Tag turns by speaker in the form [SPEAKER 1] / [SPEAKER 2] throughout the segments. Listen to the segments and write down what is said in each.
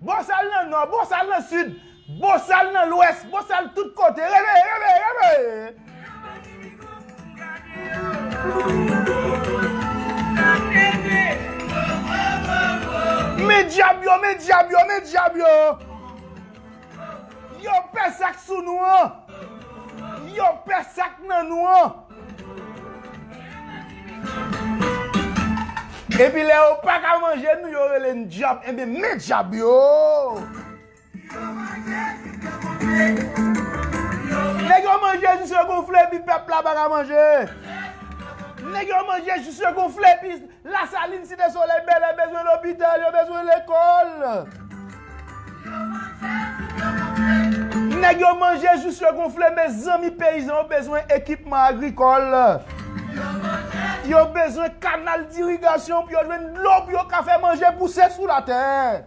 [SPEAKER 1] Bosal nan nò, bosal nan sid, bosal nan lwès, bosal tout kote, reveye, reveye, reveye! Men dyab yo, men dyab yo, men dyab yo! Yo pè sa k sou nou an! Yo pè sa k nan nou an! Epi lè yo pa ka manje nou yo rele n dyab enben men dyab yo Nèg yo manje jis yo gonfle epi pèp la pa ka manje Nèg yo manje jis yo gonfle epi Lasalin, Site Solèy, Bèlè bezwen lopital, yo bezwen lekòl. Nèg yo manje jous yo gonfle. Mezanmi peyizan yo bezwen ekipman agrikòl. Yo bezwen kanal dirigasyon pou yo jwenn dlo pou yo ka fè manje pouse sou latè.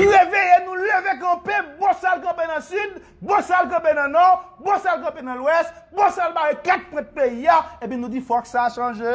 [SPEAKER 1] Reveye nou, leve kanpe, Bosal kanpe nan Sid, Bosal kanpe nan Nò, Bosal kanpe nan Lwès, Bosal bare 4 pwent peyi a, epi nou di fòk sa chanje.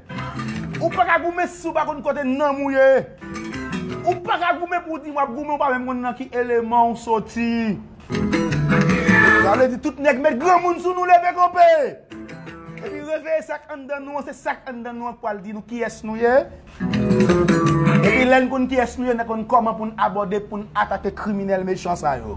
[SPEAKER 1] Ou pa ka goumen si w pa konn kote nanm ou ye. Ou pa ka goumen pou w di w ap goumen ou pa menm konn nan ki eleman ou soti. Sa vle di tout nèg met granmoun sou nou leve kanpe. Epi reveye sa k anndan nou an, se sa k anndan nou an k pral di nou kiyès nou ye. Epi lè n konn kiyès nou ye, n ap konn kòman pou n abòde, pou n atake kriminèl mechan sa yo.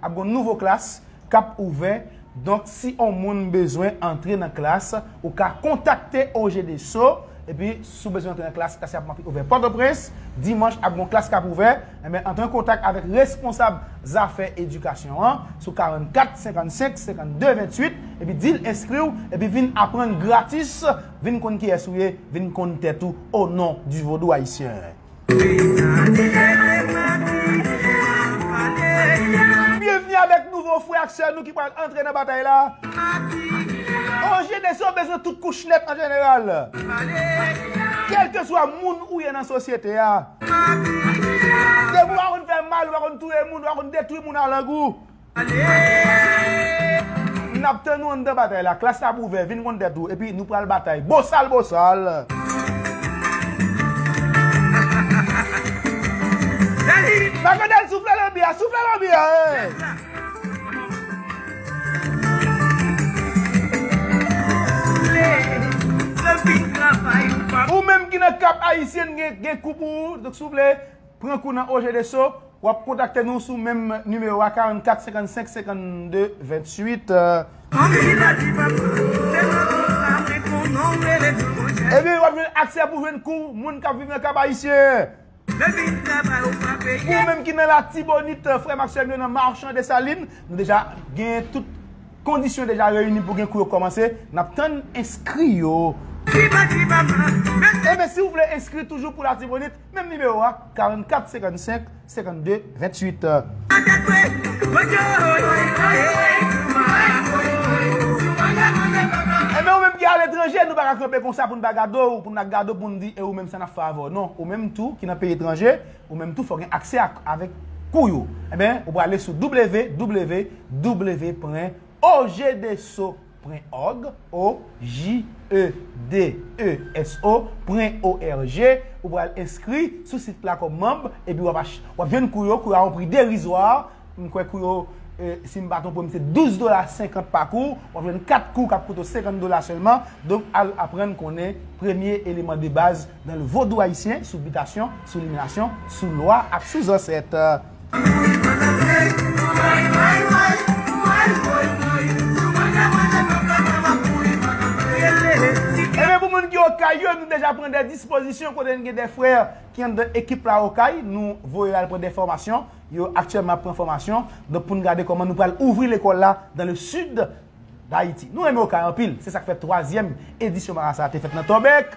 [SPEAKER 1] Ap gon nouvo klas kap ouvè donk si on moun bezwen antre nan klas ou ka kontakte OGDSO epi si w bezwen antre nan klas klas yap manke ouvè Pòtoprens dimanch ap gon klas kap ouvè enben antre an kontak avèk responsab zafè edikasyon an sou 44 55 52 28 epi di l enskri w epi vin aprann gratis vin konn kiyès ou ye vin konn tèt ou o non di vodou ayisyen. Bienvenue avek nouvo frè ak sè nou ki pral antre nan batay la. An Jenese yo bezwen tout kouch net an jeneral. Kelkeswa moun ou ye nan sosyete a. Depi ou pa konn fè mal, ou pa konn touye moun, ou pa konn detwi moun a lang ou. N ap tann ou anndan batay la. Klas la ap ouvè, vin konn tèt ou, epi nou pral batay. Bosal bosal! Makodèl soufle lanbi a, soufle lanbi a e! Ou menm ki nan Cap Haïtien gen kou pou ou, soufle. Pran kou nan Oje de So, w ap kontakte nou sou menm nimewo a 44 55 52 28. Ebyen w ap jwenn aksè pou jwenn kou moun k ap viv nan Kap Ayisyen. Pou ou menm ki nan Latibonit, frè m ak sè m yo nan Marchand Dessalines, nou deja gen tout kondisyon deja reyini pou gen kou yo kòmanse, n ap tann enskri yo. Ebyen si w vle enskri toujou pou Latibonit, Menm nimewo a, 44 55 52 28. Enben ou menm ki aletranje, nou pa ka kanpe konsa pou n pa gade w, pou n pa gade w pou n di e ou menm sa n ap fè avè w. Non, ou menm tou ki nan peyi etranje, ou menm tou fò w gen aksè ak avèk kou yo. Enben, ou prale sou www. Pwen. Ojdeso. Pwen òg, o, ji, e, de, e, s, o, pwen, o, r, g, ou pral enskri sou sit la kòm manb epi wap ach, wap jwenn kou yo, kou yo a yon pri derizwa, m kwè kou yo, si m pa twonpe m se 12 dola 50 pa kou, wap jwenn 4 kou kap koute w 50 dola sèlman, donk al aprann konnen premye eleman de baz nan le vodou ayisyen sou bitasyon, sou liminasyon, sou lwa ak sou zansèt. Ebyen pou moun ki okay yo nou deja pran de dispozisyon kote nou gen de frè ki anndan ekip la okay nou voye yo al pran de fòmasyon yo aktyèlman ap pran fòmasyon donk pou nou gade kòman nou pral ouvri lekòl la dan le sid dayiti nou renmen okay anpil se sak fè twazyèm edisyon marasa a te fèt nan tòbèk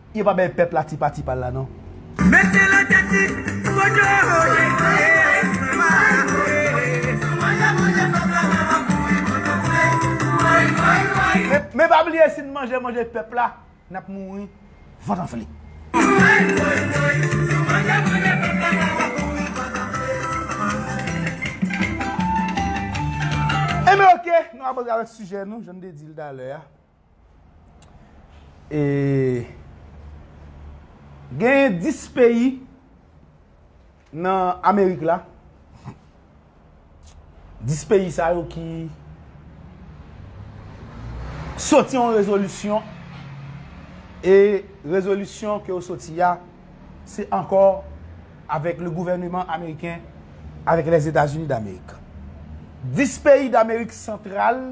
[SPEAKER 1] Yo pa bay pèp la ti pati pal la non. Mete la tati koto ye ee mama ee sou manje manje pèp la mama kouri koto vle woy woy woy. Men pa bliye sin manje manje pèp la nap mouri vant anfle. Woy woy woy sou manje manje pèp la mama kouri koto vle woy. Enben ok nou abòde avèk sijè nou jan nou te dil talè a. E Genyen 10 peyi nan Amerik la 10 peyi sa yo ki Soti yon rezolisyon E rezolisyon ke yo soti a Se ankò Avèk le gouvèneman ameriken Avèk lèzetazini damerik 10 peyi damerik santral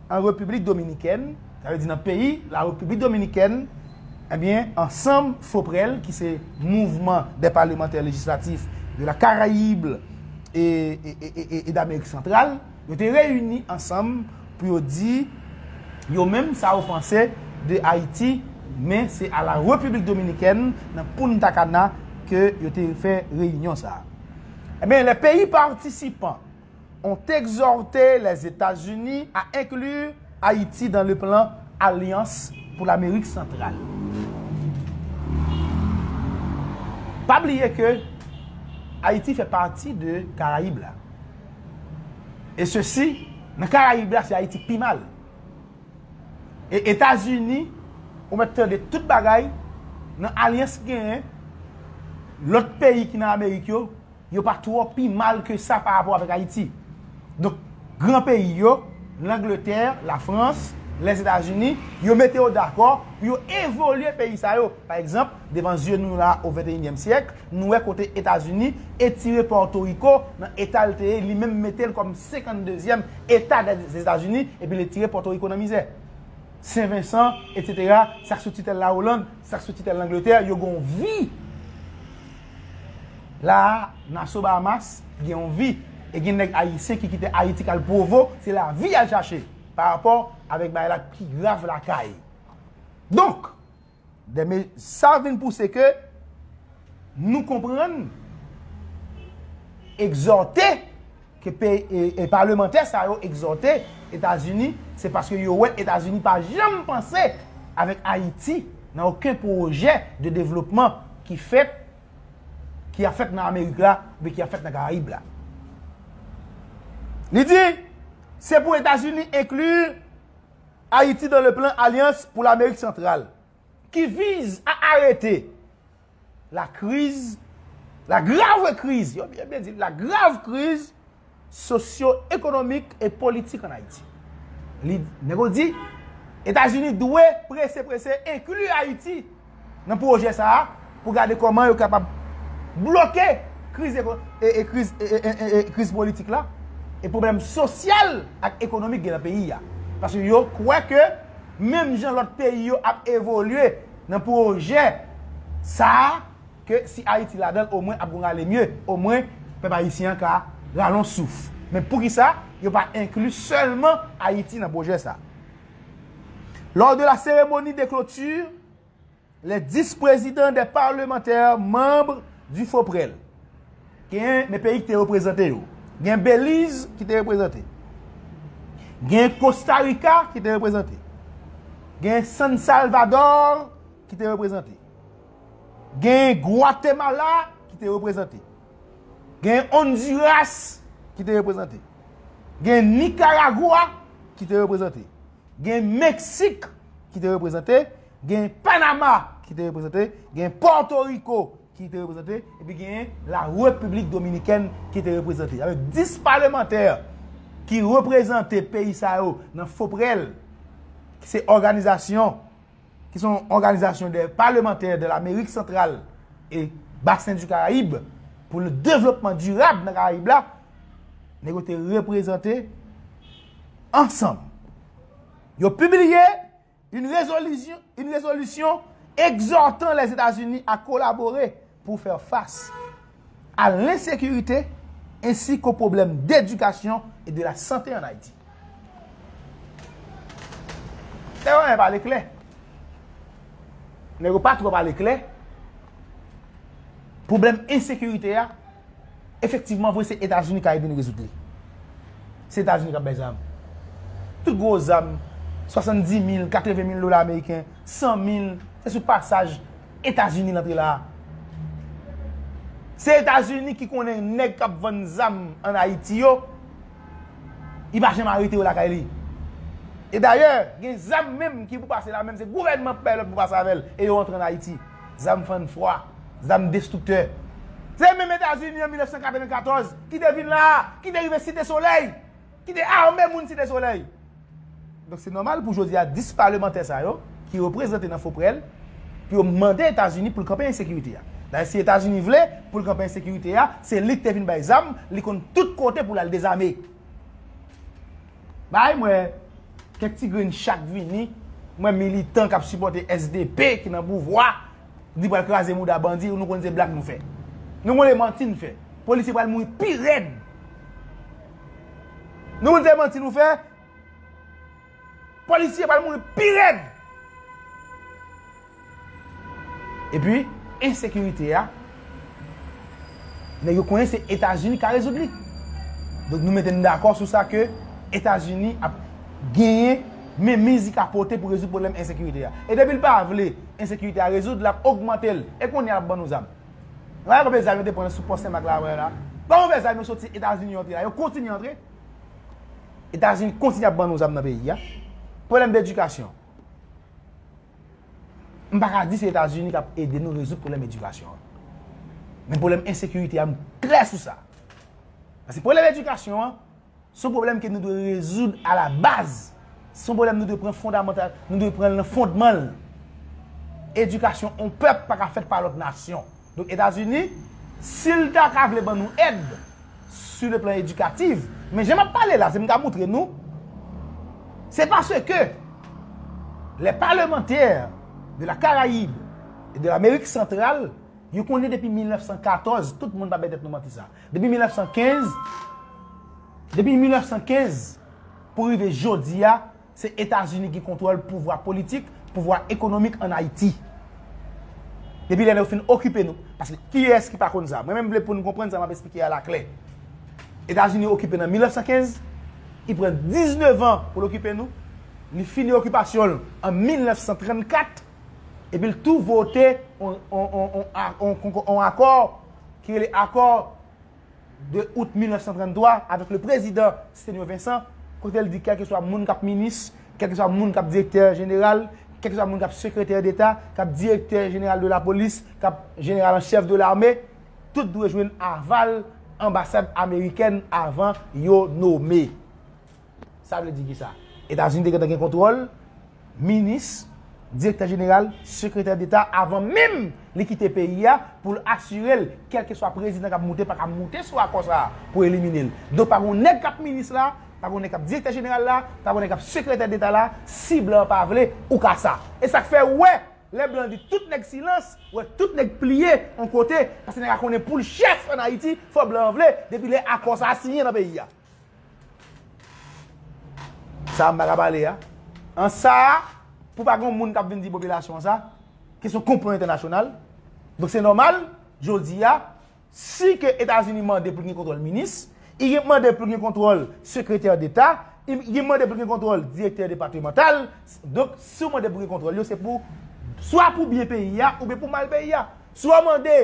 [SPEAKER 1] an Repiblik Dominikèn, sa vle di nan peyi la Repiblik Dominikèn, ebyen ansanm FOPREL ki se Mouvement des Parlementaires Législatifs de la Caraïbe et d'Amérique Centrale, yo te reyini ansanm pou yo di yo menm sa yo panse de Ayiti, men se a la Repiblik Dominikèn nan Punta Cana ke yo te fè reyinyon sa. Ebyen lè peyi patisipan. ont exhorte les États-Unis à inclure Haïti dans le plan Alliance pour l'Amérique centrale. Pa bliye ke Ayiti fè pati de Karayib la. E se si, nan Karayib la se Ayiti k pi mal. E Etazini, ou mèt tande tout bagay, nan alyans ki genyen, lòt peyi ki nan Amerik yo, yo pa twò pi mal ke sa pa rapò avèk Ayiti. Donk, gran peyi yo, Langletè, Lafrans, Lèzetazini, yo mete yo dakò pou yo evolye peyi sa yo. Pa egzanp, devan zye nou la o venteyinyèm syèk, nou wè kote Etazini etire Pòtoriko nan eta l te ye, li menm mete l kòm senkanndezyèm eta dè Lèzetazini epi l etire Pòtoriko nan mizè. Sen Vensan, etsetera, sa k sou titèl Lawoland, sa k sou titèl Langletè, yo gen yon vi. La a, Naso Bahamas, gen yon vi. E gen nèg Ayisyen ki kite Ayiti k al Provo, se lavi y al chache, pa rapò avèk bagay la k pi grav lakay. Donk, dè me, sa vin pouse ke nou konprann, egzòte, Ke pey palemantè sa yo egzòte Etazini, se paske yo wè Etazini pa janm panse avèk Ayiti nan oken pwojè de devlopman ki fèt, ki ap fèt nan Amerik la oubyen ki ap fèt nan Karayib la. Li di, Se pou Etazini enkli Ayiti dan le plan Alyans pou Lamerik Santral, ki vize a arete la kriz, la grav kriz, yo byen byen di, la grav kriz sosyo ekonomik e politik an Ayiti. Li, nèg yo di, Etazini dwe prese prese enkli Ayiti nan pwojè sa a pou gade kòman yo kapab bloke kriz eko, e, e kriz, e, e, e, e kriz politik la e pwoblèm sosyal ak ekonomik gen nan peyi a. Paske yo kwè ke menm jan lòt peyi yo ap evolye, nan pwojè sa a ke si Ayiti ladan l omwen ap gon rale mye, omwen pèp ayisyen an ka rale yon souf. Men poukisa yo pa enkli sèlman Ayiti nan pwojè sa a? Lors de la cérémonie de clôture, les 10 présidents des parlementaires membres du FOPREL, Genyen men peyi ki te reprezante yo. Gen Beliz ki te reprezante. Gen Kosta Rika ki te reprezante. Gen San Salvador ki te reprezante. Gen Gwatemala ki te reprezante. Gen Onduras ki te reprezante. Gen Nikaragwa ki te reprezante. Gen Meksik ki te reprezante. Gen Panama ki te reprezante. Gen Porto Riko. ki te reprezante, epi genyen la Repiblik Dominikèn ki te reprezante. Avèk 10 palemantè ki reprezante peyi sa yo nan FOPREL, ki se òganizasyon, ki son òganizasyon de palemantè de l'Amerik Santral e Basen di Karayib, pou le devlopman dirab nan Karayib la, nèg yo te reprezante ansanm. Yo pibliye. Yn rezolisyon egzòtan Lèzetazini a kolabore pou fè fas a lensekirite ensi ko pwoblèm dedikasyon e de la sante an Ayiti. Nèg yo renmen pale klè. Nèg yo pa twò pale klè. Pwoblèm ensekirite a, efektivman vre se Etazini ka ede n rezoud li. Se Etazini k ap bay zam. Tout gwo zam, 70 mil, 80 mil dola ameriken, 100 mil, se sou pasaj Etazini l antre la a. Se Etazini ki konnen nèg k ap vann zam ann Ayiti yo, li pa janm arete yo lakay li. E dayè, gen zam menm ki pou pase la menm se gouvènman k bay lòd pou pase avè l e yo antre ann Ayiti. zam fann fwa, zam destriktè. Se menm Etazini an 1994 ki te vin la a, ki te rive Site Solèy, ki te ame moun Site Solèy. Donk se nòmal pou jodi a 10 palemantè sa yo ki reprezante nan Foprel pou yo mande Etazini pou l kanpe ensekirite a. Dayè si Etazini vle pou l kanpe ensekirite a, se li ki te vin bay zam, li konn tout kote pou l al dezame. Bay mwen kèk ti grenn chak vini mwen militan kap sipote sdp ki nan pouvwa di pral kraze mouda bandi nou konn se blag nou fè nou konn se manti nou fè polisye pral mouri pi rèd nou konn se manti nou fè polisye pral mouri pi rèd Epi ensekirite a nèg yo konnen se Etazini ka rezoud li. Donk nou mete n dakò sou sa ke Etazini ap genyen menmiz li ka pote pou rezoud pwoblèm ensekirite a. E depi l pa vle ensekirite a rezoud, l ap ogmante l. E kounye a l ap ban nou zam. Gade konbyen zam yo te pran sou pò Senmak la wè la. Gade konbyen zam yo soti Etazini yo antre la. Yo kontinye antre. Etazini kontinye ap ban nou zam nan peyi a. Pwoblèm de edikasyon. M pa ka di se Etazini k ap ede nou rezoud pwoblèm edikasyon an. Men pwoblèm ensekirite a m klè sou sa. Paske pwoblèm edikasyon an, se yon pwoblèm ke nou dwe rezoud a la baz. Se yon pwoblèm nou dwe pran fondamantal, nou dwe pran l nan fondman l. Edikasyon yon pèp pa ka fèt pa lòt nasyon. Donk Etazini, si l ta ka vle ban nou èd sou le plan edikativ, men jan m ap pale la, si m ka moutre nou, se paske lè palemantè de la Karayib e de Amerik Santral, yo konnen depi 1914, tout moun pa bay tèt nou manti sa, depi 1915, depi 1915 pou rive jodi a, Se Etazini ki kontwòl pouvwa politik, pouvwa ekonomik an Ayiti. Depi lè yo fin okipe nou, paske kiyès ki pa konn sa? Mwen menm vle pou nou konprann sa m ap esplike a la klè. Etazini okipe nan 1915, li pran 19 an pou l okipe nou, li fini okipasyon l an 1934, epi l tou vote yon akò ki rele akò 2 out 1933 avèk le prezidan Stenio Vincent, kote l di kèlkeswa moun k ap minis, kèlkeswa moun k ap direktè jeneral, kèlkeswa moun k ap sekretè deta, k ap direktè jeneral de lapolis, k ap jeneral an chèf de lame, tout dwe jwenn aval anbasad amerikèn avan yo nome. Sa vle di ki sa? Etazini te gentan gen kontwòl minis, direktè jeneral, sekretè deta avan menm li kite peyi a pou l asire l kèlkeswa prezidan k ap moute pa ka moute sou akò sa a pou elimine l. Donk pa gon nèg k ap minis la, pa gon nèg k ap direktè jeneral la, pa gon nèg k ap sekretè deta la, si blan an pa vle, ou ka sa. E sa k fè ou wè lè blan di tout nèg silans, ou wè tout nèg pliye on kote paske nèg la konnen pou l chèf ann Ayiti fò blan an vle depi lè akò sa a siyen nan peyi a. Sa m ta ka pale a. An sa a, pou pa gen moun k ap vin di popilasyon an sa, ki se yon konplo entènasyonal, donk se nòmal, jodi a, si ke Etazini mande pou l gen kontwòl minis, li gen pou mande pou l gen kontwòl sekretè deta, li gen pou mande pou l gen kontwòl direktè depatemantal, donk si w mande pou gen kontwòl yo se pou, swa pou byen peyi a oubyen pou mal peyi a. Si w mande,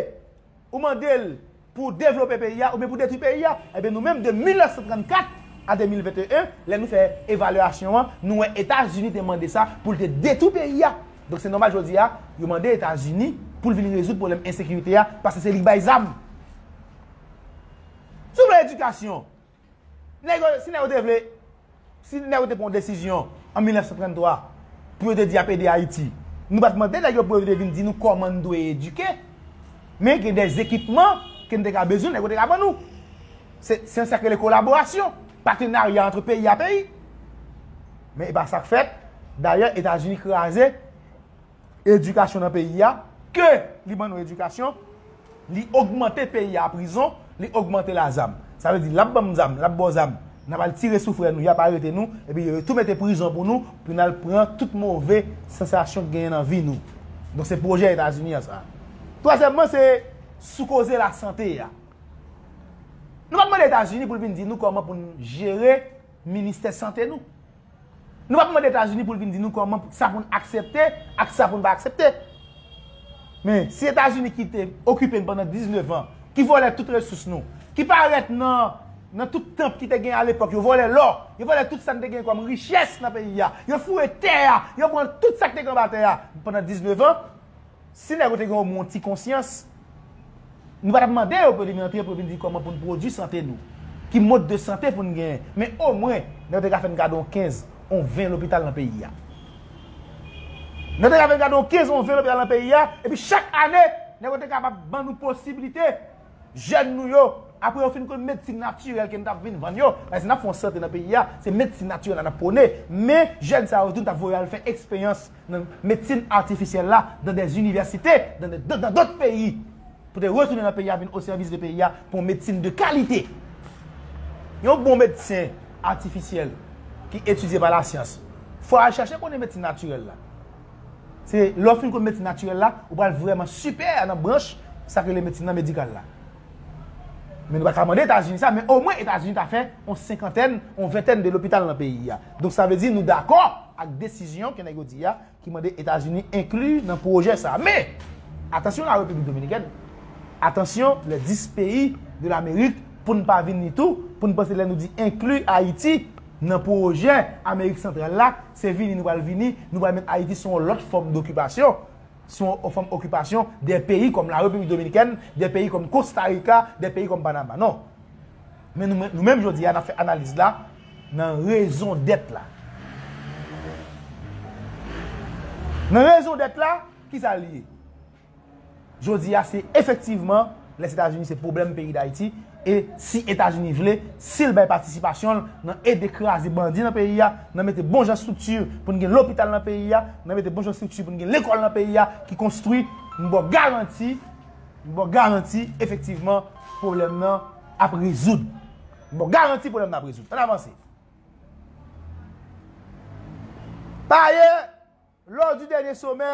[SPEAKER 1] ou mande l. Pou devlope peyi a oubyen pou detwi peyi a? Ebyen nou menm de 1934 a 2021 lè nou fè evalyasyon an nou wè Etazini te mande sa pou l te detwi peyi a. Donk se nòmal jodi a yo mande Etazini pou l vin rezoud pwoblèm ensekirite a paske se li k bay zam. Si w vle edikasyon, Nèg yo, si nèg yo te vle, si nèg yo te pran yon desizyon an 1933 pou yo te di y ap ede Ayiti, nou pa t mande nèg yo pou yo te vin di nou kòman n dwe edike, men gen dè ekipman ke n te ka bezwen, nèg yo te ka ban nou. Se yon sa k rele kolaborasyon, patenarya antre peyi a peyi. Men e pa sa k fèt, dayè Etazini kraze. edikasyon nan peyi a, ke li ban nou edikasyon, li ogmante peyi a prizon, li ogmante l a zam. Sa vle di l ap ban m zam, l ap ba w zam, n ap al tire sou frè nou, y ap arete nou, epi yo tou mete prizon pou nou, pou n al pran tout move sansasyon ki genyen nan vi nou. Donk se pwojè Etazini an sa. Twazyèmman se sou koze lasante a. Nou pa mande Etazini pou l vin di nou kòman pou n jere ministè sante nou. Nou pap mande Etazini pou l vin di nou kòman pou sa pou n aksepte ak sa pou n pa aksepte. Men, si Etazini ki te okipe n pandan 19 an, ki vòlè tout resous nou, ki pa rèt nan nan tout tanp ki te gen alepòk yo vòlè lò, yo vòlè tout sa n te gen kòm richès nan peyi a, yo foure tè a, yo pran tout sa k te gen anba tè a pandan 19 an, Si nèg yo te gen o mwen yon ti konsyans, nou pa tap mande yo pou yo te vin antre pou yo vin di kòman pou n pwodui sante nou, ki mod de sante pou n genyen. Men o mwen, nèg yo te ka fè n gade yon 15, yon 20 lopital nan peyi a. Nèg yo te ka fè n gade yon 15, yon 20 lopital nan peyi a, epi chak ane, nèg yo te kapab ban nou posibilite, jèn nou yo, apre yo fin konn medsin natirèl ke nou tap vin vann yo, paske si nap fè yon sante nan peyi a, se medsin natirèl la nap pwone, men jèn sa yo tou ta voye al fè eksperyans nan medsin atifisyèl la dan dè inivèsite, dan dòt peyi, pou te retounen nan peyi a vin osèvis de peyi a pou yon medsin de kalite. Yon bon medsen atifisyèl ki etidye pa lasyans, fò al chache konnen medsin natirèl la. Se lè w fin konn medsin natirèl la, ou pral vrèman sipè nan branch sa k rele medsin nan medikal la. Men nou pa ka mande Etazini sa, men omwen Etazini ta fè on senkantèn, on ventèn de lopital nan peyi a. Donk sa vle di nou dakò ak desizyon ke nèg yo di a ki mande Etazini enkli nan pwojè sa. Men, atansyon la Repiblik Dominikèn, atansyon lè 10 peyi de lamerik pou n pa vin ni tou, pou n panse lè nou di enkli Ayiti nan pwojè Amerik Santral la, Se vini nou pral vini, nou pral met Ayiti sou yon lòt fòm dokipasyon, sou yon fòm okipasyon dè peyi kòm La Repiblik Dominikèn, dè peyi kòm Kosta Rika, dè peyi kòm Panama. Non. Men nou menm, nou menm jodi a n ap fè analiz la nan rezondèt la. Nan rezondèt la, ki sa l ye? Jodi a se efektivman les Etazini se pwoblèm peyi Dayiti e si Etazini vle, si l bay patisipasyon l nan ede kraze bandi nan peyi a, nan mete bon jan estrikti pou n gen lopital nan peyi a, nan mete bon jan estrikti pou n gen lekòl nan peyi a ki konstwi, m ba w garanti, m ba w garanti efektivman pwoblèm nan ap rezoud. M ba w garanti pwoblèm nan ap rezoud. Ann avanse. Pa ayè, lò di dènye somè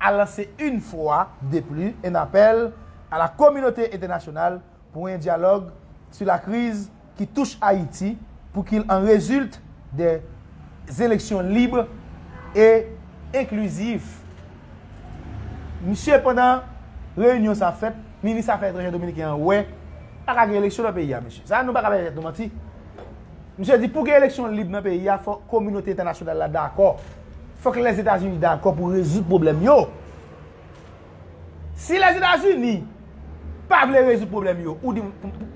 [SPEAKER 1] a lanse une fwa de pli un appel à la communauté internationale pour un dialogue sur la crise qui touche Haïti pour qu'il en résulte des élections libres et inclusives. Mesye pandan reyinyon sa ap fèt, minis afè etranjè dominiken an wè pa ka gen eleksyon nan peyi a mesye. Sa nou pa ka bay tèt nou manti. Misye di pou gen eleksyon lib nan peyi a fò kominote entènasyonal la dakò. Fòk Lèzetazini dakò pou rezoud pwoblèm yo. Si Lèzetazini pa vle rezoud pwoblèm yo, ou di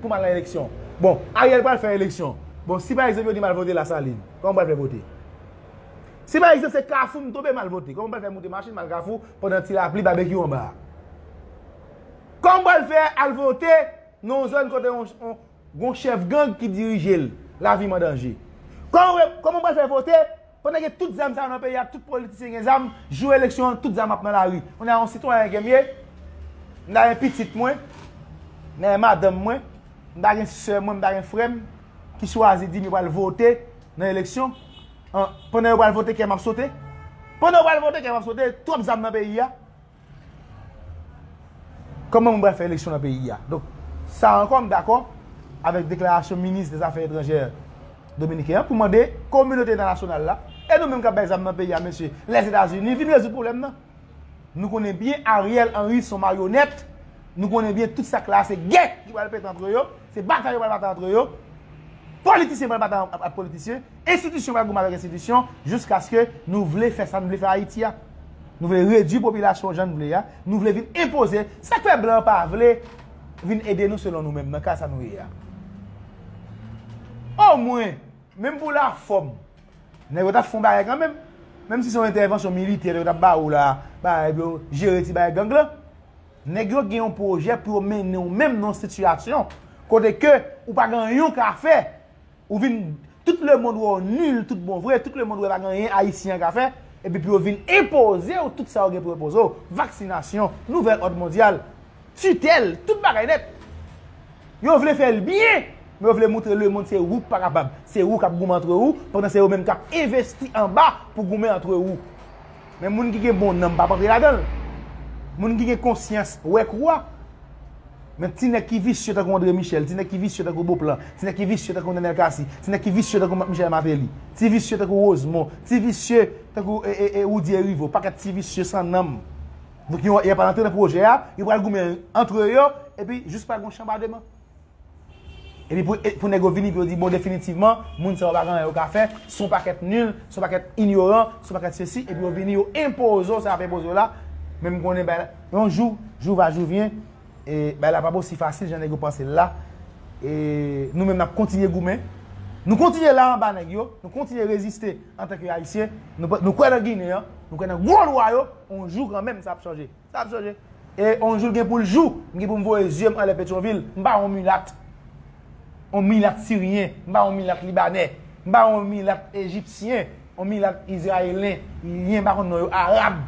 [SPEAKER 1] pou m al nan eleksyon. Bon, Ariel pral fè eleksyon. Bon, si pa egzanp yo di m al vote Lasalin, kòman m pral fè vote? Si pa egzanp se Kafou m tonbe m al vote, kòman m pral fè moute machin m al Kafou pandan ti lapli babekyou anba a? Kòman m pral fè al vote nan yon zòn kote Gon chèf gang ki dirije l, lavi m an danje. Kòman m pral fè vote pandan gen tout zam sa yo nan peyi a, tout politisyen gen zam, jou eleksyon an tout zam ap nan lari. Kounye a yon sitwayen ke m ye, m ta gen pitit mwen, m ta gen madanm mwen, m ta gen sè mwen, m ta gen frè m ki chwazi di m yo pral vote nan eleksyon, pandan yo pral vote kè m ap sote. Pandan yo pral vote kè m ap sote, twòp zam nan peyi a. Kòman moun pral fè eleksyon nan peyi a? Donk, sa ankò m dakò avèk deklarasyon minis dezafè etranjè dominiken an pou mande kominote entènasyonal la, e nou menm k ap bay zam nan peyi a mesye, Lèzetazini vin rezoud pwoblèm nan. Nou konnen byen Ariel Henry son maryonèt, nou konnen byen tout sa k la a se gè ki pral pete antre yo, se batay yo pral batay antre yo, politisyen pral batay ak politisyen. Enstitisyon pral goumen avèk enstitisyon jiskaske nou vle fè sa n vle fè Ayiti a. Nou vle redui popilasyon jan n vle a, nou vle vin enpoze. Sa k fè blan pa vle vin ede nou selon nou menm nan ka sa nou ye a? Omwen, menm pou lafòm, nèg yo t ap fè yon bagay kanmenm. Menm si se yon entèvansyon militè yo t ap ba ou la a, bay pou yo jere ti bagay gang lan. Nèg yo gen yon pwojè pou yo mennen w menm nan yon sitiyasyon kote ke ou pa gen anyen w ka fè. Ou vin tout le mond wè w nul tout bon vre, tout le mond wè pa gen anyen ayisyen an ka fè, epi pou yo vin enpoze w tout sa yo gen pou yo enpoze w, vaksinasyon, nouvèl òd mondyal, titèl, tout bagay nèt. Yo vle fè l byen, men yo vle moutre le mond se ou k pa kapab, se ou k ap goumen antre ou, pandan se yo menm k ap envesti anba pou goumen antre ou. Men moun ki gen bon nanm pap antre ladan l. Moun ki gen konsyans wè kou a. Men ti nèg ki visye tankou Andre Michel, ti nèg ki visye tankou Beauplan, ti nèg ki visye tankou Nenel Cassy, ti nèg ki visye tankou Marc Michel Martelly, ti visye tankou Rosemon, ti visye tankou Roody Heriveaux, pakèt ti visye san nanm. Donk yo y ap antre nan pwojè a, yo pral goumen antre yo epi jis pa gen yon chanbademan. Epi pou nèg yo vini pou yo di bon definitivman moun sa yo pa gen anyen yo ka fè, son pakèt nul, son pakèt inyoran, son pakèt sesi epi yo vini yo enpoze w sa y ap enpoze w la men m konnen bagay la yon jou, jou va jou vyen e bagay la pa p osi fasil jan nèg yo panse l la e nou menm n ap kontinye goumen nou kontinye la anba nèg yo nou kontinye reziste antanke ayisyen nou kwè nan ginen an nou kwè nan gwo lwa yo yon jou kanmenm sa ap chanje. Sa ap chanje. E on jou l gen pou l jou, m gen pou m voye zye m anlè Petyonvil. M pa on milat. On milat siryen. M pa on milat libanè. M pa on milat ejipsyen. On milat izrayelen. Lyen m pa konn non yo. Arab.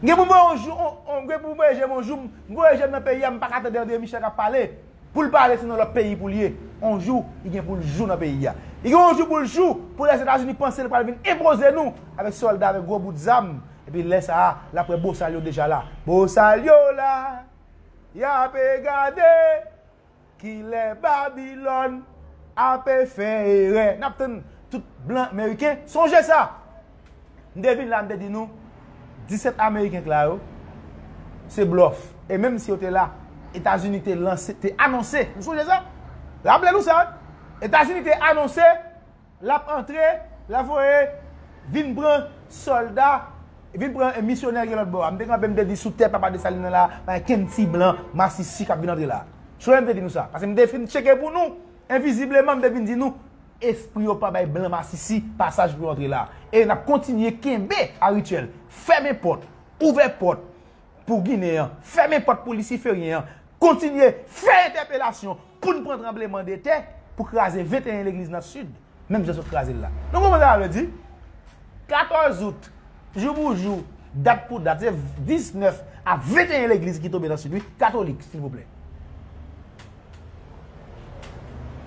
[SPEAKER 1] M gen pou m voye on jou, on, m gen pou m voye je m on jou. M voye je m nan peyi a, m pa ka tande André Michel k ap pale. Pou l pale se nan lòt peyi pou l ye. On jou, li gen pou l jou nan peyi a. Li gen on jou pou l jou pou Lèzetazini panse l pral vin enpoze nou avèk sòlda, avèk gwo bout zam. Epi lè sa a, l ap wè bosal yo deja la. Bosal yo la, y ape gade ki lè Babilòn ape fè erè. N ap tann tout blan meriken sonje sa. M te vin la, m te di nou, 17 ameriken k la yo, se blòf. E menm si yo te la, Etazini te lanse, te anonse, nou sonje sa? Raple nou sa wi. Etazini te anonse. Lap antre, la voye vin pran solda, vin pran misyonè ki lòtbò a. M te kanpe m te di sou tè papa Desalin nan la pa gen kenn ti blan masisi kap vin antre la. Sonnen m te di nou sa. Pase m te fin tcheke pou nou, envizibleman m te vin di nou espri yo pa bay blan masisi pasaj pou yo antre la. E nap kontinye kenbe a rityèl fèmen pòt, ouvè pòt pou ginen an, fèmen pòt pou lisiferyen an, kontinye fè entèpelasyon, Pou n pran tranbleman de tè pou kraze 21 legliz nan Sid, menm jan sot kraze l la. Nou konprann sa vle di? 14 out, jou pou jou, dat pou dat, se 19 a 21 legliz ki tonbe nan Sid wi, katolik, silvouplè.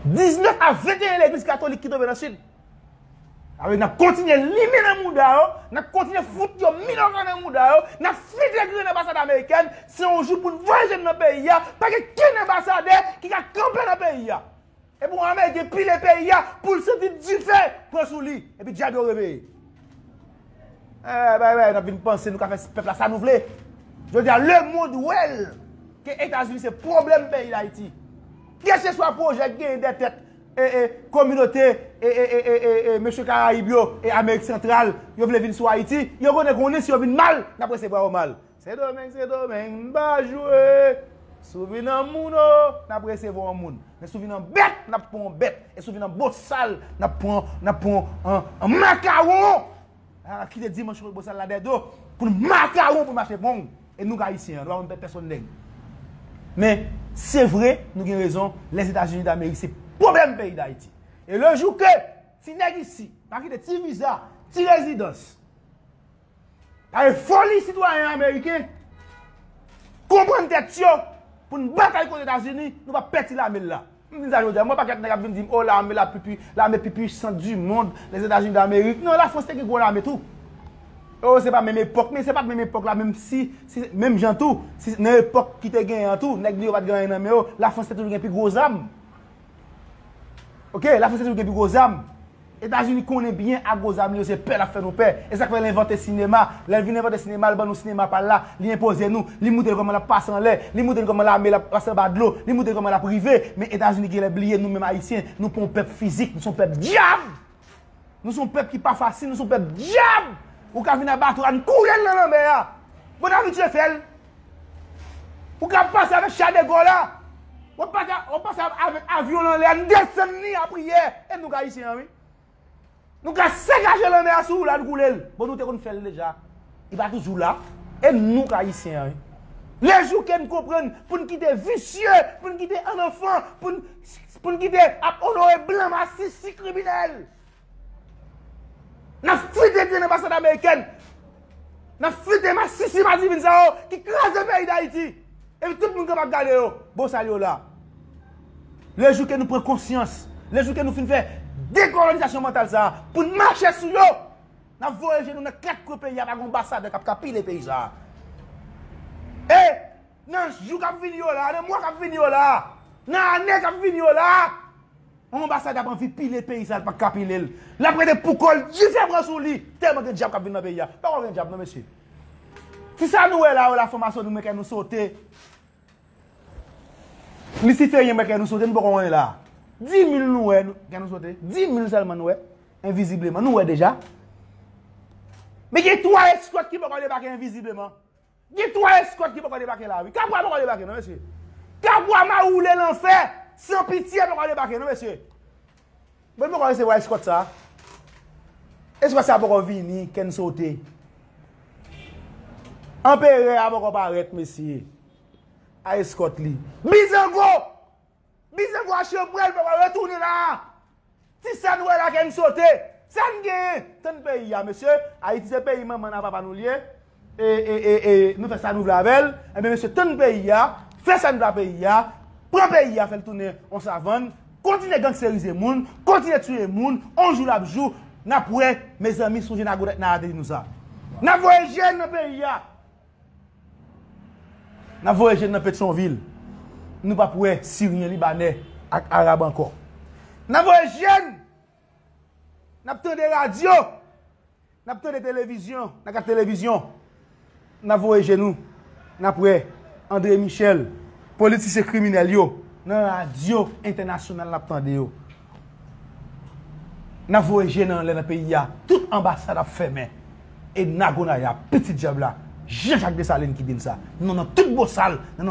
[SPEAKER 1] 19 a 21 legliz katolik ki tonbe nan Sid. Sa vle di n ap kontinye limen nan mouda yo, n ap kontinye fout yo minòka nan mouda yo, n ap fite grenn anbasad amerikèn, se yon jou pou n voye je n nan peyi a, pa gen kenn anbasadè ki ka kanpe nan peyi a. E pou ame gen pile peyi a pou l santi dife pran sou li, epi dyab yo reveye. Bay bay, n ap vin panse nou ka fè pèp la sa nou vle. Jodi a lemond wè l ke Etazini se pwoblèm peyi Dayiti. Kèlkeswa pwojè ki genyen dè tèt E e kominote e e e e e mesye karayib yo e amerik santral yo vle vin sou ayiti yo konnen konnen si yo vin mal nap resevwa yo mal sendomeng sendomeng n pa jwe si w vin an moun o nap resevwa w an moun men si w vin an bèt nap pran w an bèt e si w vin an bosal nap pran w nap pran w an an makawon Ala kite dimanche kote bosal la dèdo pou nou makawon pou mache bon e nou k ayisyen nou pa konn pè pèsòn nèg men se vre nou gen rezon lèzetazini damerik se pwoblèm peyi dayiti e le jou ke ti nèg isi pa kite ti viza ti rezidans pa gen foli sitwayen ameriken konprann tèt yo pou n batay kont etazini nou pa pè ti lame l la. M di sa jodia, m wè pakèt nèg ap vin di m oh lame la pi lame pi puissant du monde, les Etats Unis d'Amerique. Non la France te gen gwo lame tou. Oh se pa menm epòk, men se pat menm epòk la menm si, si menm jan tou, si nan epòk ki te genyen an tou, nèg li yo pat gen anyen nan men yo, la France te toujou gen pi gwo zam. Ok, la France te toujou gen pi gwo zam. Etazini konnen byen ak gwo zam li yo se pè l ap fè nou pè. E sa k fè l envante sinema. Lè l vin envante sinema, l ban nou sinema pa l la, li enpoze nou. Li moutre n kòman l ap pase anlè. Li moutre n kòman lame l ap pase anba dlo. Li moutre n kòman l ap rive. Men Etazini gen lè bliye nou menm Ayisyen. Nou pa yon pèp fizik. Nou se yon pèp dyab! Nou se yon pèp ki pa fasil. Nou se yon pèp dyab! Ou ka vin a bato a, n kouri al nan lanmè a! Bon n abitye fè l! Ou ka pase avèk cha de gò la. Wap pase wap pase avèk avyon lan lè a, n desann li a priyè. E nou k ayisyen an wi. Nou ka sakaje lanmè a sou la n koule l. Bon nou te konn fè l deja. Li pa toujou la. E nou k ayisyen an wi. Le jou ke n konprann pou n kite visye, pou n kite annanfan, pou n pou n kite ap onore blan masisi kriminèl. Nap frite grenn anbasad amerikèn, nap frite masisi madivin sa yo ki kraze peyi dayiti epi tout moun kap ap gade yo bon sa yo la. Le jou ke nou pran konsyans, le jou ke nou fin fè dekolonizasyon mantal sa poun mache sou yo nap voye je nou nan 4 kwen peyi a pa gen anbasadè kap ka pile peyi sa. E nan jou kap vini yo la, nan mwa kap vini yo la, nan ane kap vini yo la. On anbasad ap anvi pile peyi sa l pa ka pile l. L ap rete pou kò l dife pran sou li tèlman gen dyab k ap vin nan peyi a. Pa kwè w gen dyab non mesye. Ti sa nou wè la yo la fwamasyon nou men kè nou sote. Lisiferyen men kè nou sote nou poko konnen la. Dimil nou wè kè nou sote. Dimil sèlman nou wè. Envizibleman nou wè deja. Men gen 3 eskwèt ki poko debake envizibleman. Gen 3 eskòt ki poko debake la wi. Kabwa poko debake non mesye. Kabwa mawoule lanfè san pitye poko debake non mesye. Bon nou poko resevwa eskòt sa. Eskòt sa poko vini kèn sote. Anperè a poko parèt mesye. A eskòt li. Bizango! Bizè vwa chanprèl paka retounen la a Ti sa n wè la kè n sote Sa n genyen Tann peyi a mesye Ayiti se peyi manman n a papa nou l ye E e e nou fè sa nou vle avè l Enben mesye tann peyi a Fè sa n vle a peyi a Pran peyi a fè l tounen on savann Kontinye gangsterize moun Kontinye tiye moun On jou l ap jou N ap wè Mezanmi sonje Nago tèt nan a te di nou sa N ap voye je n nan peyi a. N ap voye je n nan Petyonvil, nou pap wè Siryen, Libanè ak Arab ankò. N ap voye je n, n ap tande radyo, n ap tande televizyon, nan gad televizyon, n ap voye je nou, n ap wè Andre Michel, politisyen kriminèl yo, nan radyo entènasyonal n ap tande yo. Nap voye je nan anlè nan peyi a tout anbasad ap fèmen e nagonaya pitit dyab la Jean Jacques Dessalines ki dim sa non nan tout bosal nan